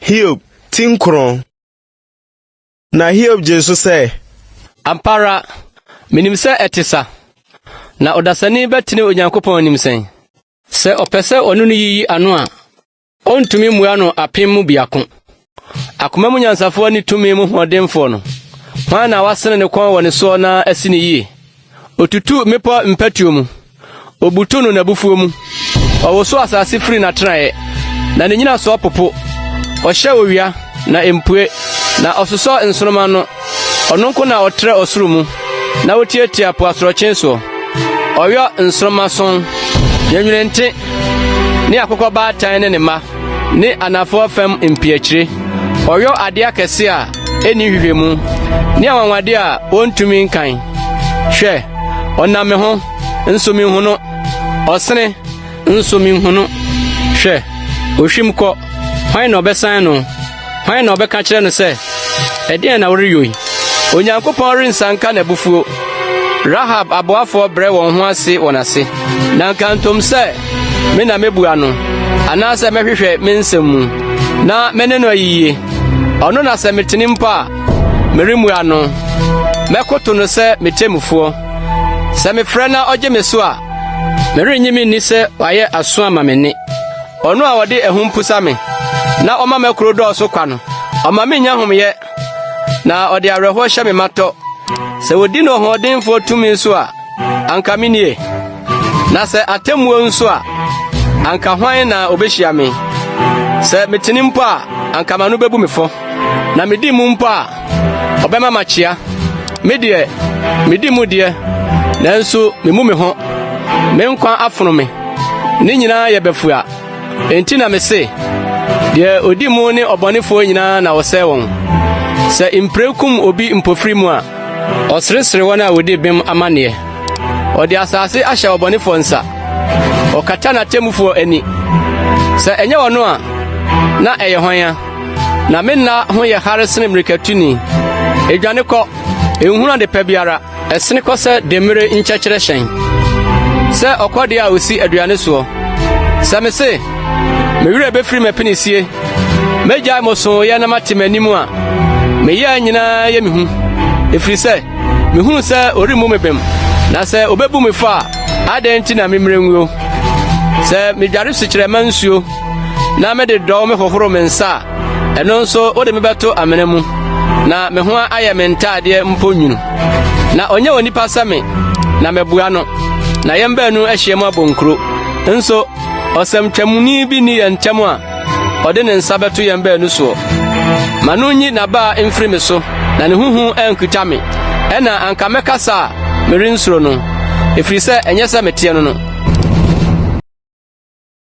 Hiob ti nkron. Na Hiob gyee so sɛ. Ampa ara, menim sɛ ɛte sa. Na ɔdasani bɛtene Onyankopɔn anim sɛn? Sɛ ɔpɛ sɛ ɔne no yiyi ano a, Ontumi mmua no apem mu biako. Akoma mu nyansafoɔ ne tumi mu hoɔdenfoɔ no, hwan na wasene ne kɔn wɔ ne soɔ na asi no yie? Ɔtutu mmepɔ mpatuo mu, ɔbutu no n'abufuo mu. Ɔwoso asase firi n'atenaeɛ, na ne nnyinasoɔ popo. Ɔhyɛ owia, na ɛmpue, na ɔsosɔ nsoromma ano. Ɔno nko na ɔtrɛ ɔsoro mu, na otiatia po asorɔkye soɔ. Ɔyɔ nsoromma sɔn, yɛ nwenente, ne akokɔbaatan ne ne mma, ne anafoɔ fam mpiakyire. Ɔyɔ adeɛ akɛse a ɛnni nhwehwɛmu, ne anwanwadeɛ a wɔntumi nkan. Hwɛ, ɔnam me ho, nso menhu no, ɔsene, nso menhu no. Hwɛ, ɔhwim kɔ, hwan na ɔbɛsan no? Hwan na ɔbɛka kyerɛ no sɛ, Ɛdeɛn na woreyɔ yi? Onyankopɔn rensa nka n'abufuo. Rahab aboafoɔ brɛ wɔn ho ase wɔn ase, na nka ntom sɛ, Me na mɛbua no, anaasɛ mɛhwehwɛ me nsɛm mu, na me ne no ayiyie. Ɔno na sɛ metene mpo a, meremmua no. Mɛkoto no sɛ me temmufoɔ. Sɛ mefrɛ na ɔgye me so a, merennye me nni sɛ wayɛ aso ama me nne. Ɔno a ɔde ahum pusa me na ɔma m'akuro dɔɔso kwa no, ɔma menya homyɛ na ɔde awerɛhoɔ hyɛ me matɔ. Sɛ wɔdi no ɔhoɔdenfoɔ tumi so a, anka me nie. Na sɛ atemmuo nso a, anka hwan na ɔbɛhyia me? Sɛ metene mpo a, anka m'ano bɛbu me fɔ. Na medi mu mpo a, Ɔbɛma makyea. Me deɛ, medi mu deɛ, nanso memu me ho. Me nkwa afono me. Ne nyinaa yɛ bɛfua. Enti na mese, deɛ odi mu ne ɔbɔnefoɔ nyinaa na ɔsɛe wɔn. Sɛ mpire kum obi mpofiri mu a, ɔseresere wɔn a wɔdi bem amanneɛ. Ɔde asase ahyɛ ɔbɔnefoɔ nsa. Ɔkata n'atemmufoɔ ani. Sɛ ɛnyɛ ɔno a, na ɛyɛ hwan a? Na me nna ho yɛ hare sene mmirikatuni. Edwane kɔ, enhunu ade pa biara, ɛsene kɔ sɛ demmire nkyɛkyerɛ hyɛn, sɛ ɔkɔdeɛ a osi aduane soɔ. Sɛ me se, me werɛ bɛfiri m'apinisie, mɛgyae mo sooyɛ na mate m'anim a, meyɛɛ nyinaa yɛ me hu, ɛfiri sɛ mehunu sɛ ɔremmu me bem, na sɛ ɔbɛbu me fɔ a, adɛn nti na memmire nguo? Sɛ medware sukyerɛmma nsuo Na me de dɔw me hohoro me nsa a, ɛno nso wode me bɛto amena mu, na me ho ayɛ me ntaadeɛ mpo nwunu. Na ɔnyɛ onipa sɛ me, na mabua no, na yɛn baanu ahyiam abɔ nkuro. Nso ɔsɛmtwamuni bi ni yɛn ntam a ɔde ne nsa bɛto yɛn baanu soɔ. Ma no nyi n'abaa mfiri me so, na ne ho hu ankita me. Ɛna anka mɛkasa a merensuro no, ɛfiri sɛ ɛnyɛ sɛ meteɛ no no.